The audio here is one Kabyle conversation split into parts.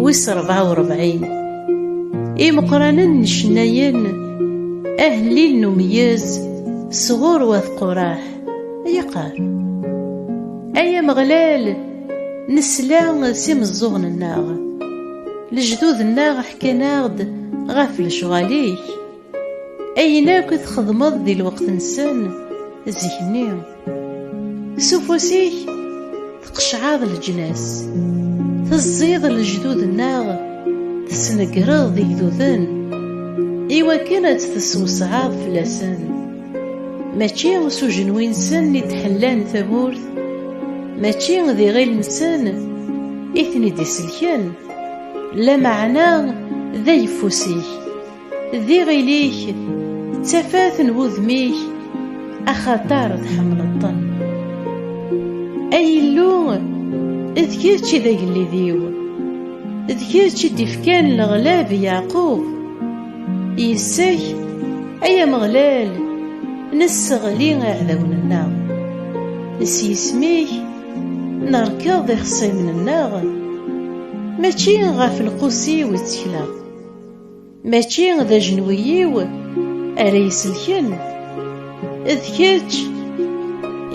wis rebɛa u rebɛin imeqqranen n cennayen ahellil n umeyyez sɣur wat quraḥ yaqar ay ameɣlal nesla s imeẓẓuɣen-nneɣ lejdud-nneɣ ḥkan-aɣ-d ɣef lecɣal-ik Ayen akk i txedmeḍ di lweqt-nsen zik-nni, s ufus-ik tqeccɛeḍ leǧnas, teẓẓiḍ lejdud-nneɣ, tesnegreḍ igduden, iwakken ad tt-teswesɛeḍ fell-asen. Mačči s ujenwi-nsen i d-ḥellan tamurt, mačči d iɣil-nsen i ten-id-iselken, lameɛna d ayeffus-ik. D iɣil-ik d tafat n wudem-ik axatar tḥemmleḍ-ten ay Illu d kečč i d agellid-iw d kečč i d-ifkan leɣlab i Yeɛqub yis-k ay Ameɣlal nesseɣli iɛdawen-nneɣ s yisem-ik nerkeḍ ixṣimen-nneɣ mačči ɣef lqus-iw i ttekleɣ Mačči d ajenwi-iw ara iselken, d kečč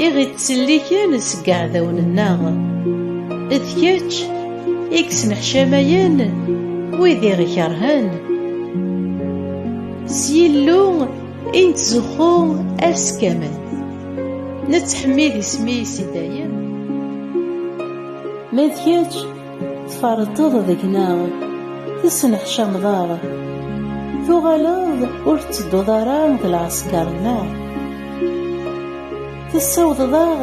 i ɣ-ittselliken seg iɛdawen-nneɣ, d kečč i yesneḥcamayen wid i ɣ-ikerhen. S Yillu i nettzuxxu ass kamel, nettḥemmid isem-is i dayem. Ma d kečč Tferṭeḍ deg-neɣ, tesneḥcameḍ aɣ, tuɣaleḍ ur tettedduḍ ara d lɛesker-nneɣ. Tessawḍeḍ aɣ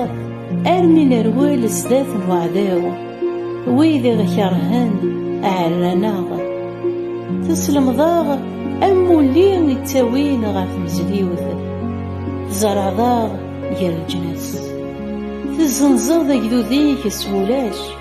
armi nerwel sdat n uɛdaw, wid i ɣ-kerhen ɛerran-aɣ. Teslemḍ aɣ amulli i ttawin ɣer tmezliwt, tzerɛeḍ aɣ gar leǧnas. Tezzenzeḍ agdud-ik s wulac.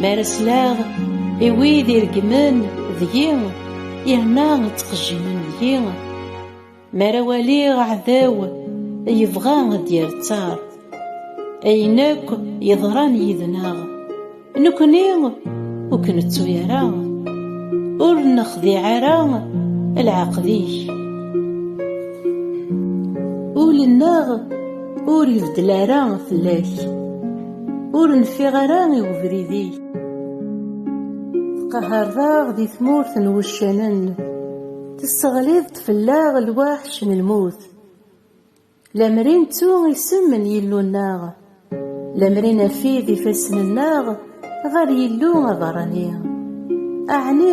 Mi ara sleɣ i wid ireggmen deg-i, yerna ttqejjimen deg-i, mi ara waliɣ aɛdaw yebɣa ad d-yerttar ayen akk yeḍran yid-neɣ, nekkni ur k-nettu ara, ur nexdiɛ ara leɛqed-ik. Ul-nneɣ ur ibeddel ara fell-ak. Ur nfiɣ ara i ubrid-ik Tqahareḍ-aɣ di tmurt n wuccanen Tesseɣliḍ-d fell-aɣ lwaḥc n lmut Lemmer i nettu isem n Yillu-nneɣ Lemmer i nafid ifassen-nneɣ Ɣer Yillu aberrani Aɛni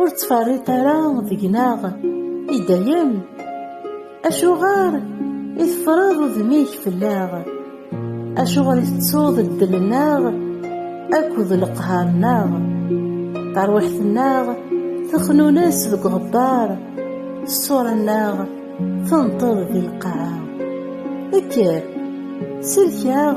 ur ttferriṭ ara deg-neɣ i dayem acuɣer i tefreḍ udem-ik fell-aɣ acuɣer i tettuḍ ddel-nneɣ akked leqhar-nneɣ tarwiḥt-nneɣ texnunes deg uɣebbar ṣṣura-nneɣ tenṭeḍ di lqaɛa kker sellek-aɣ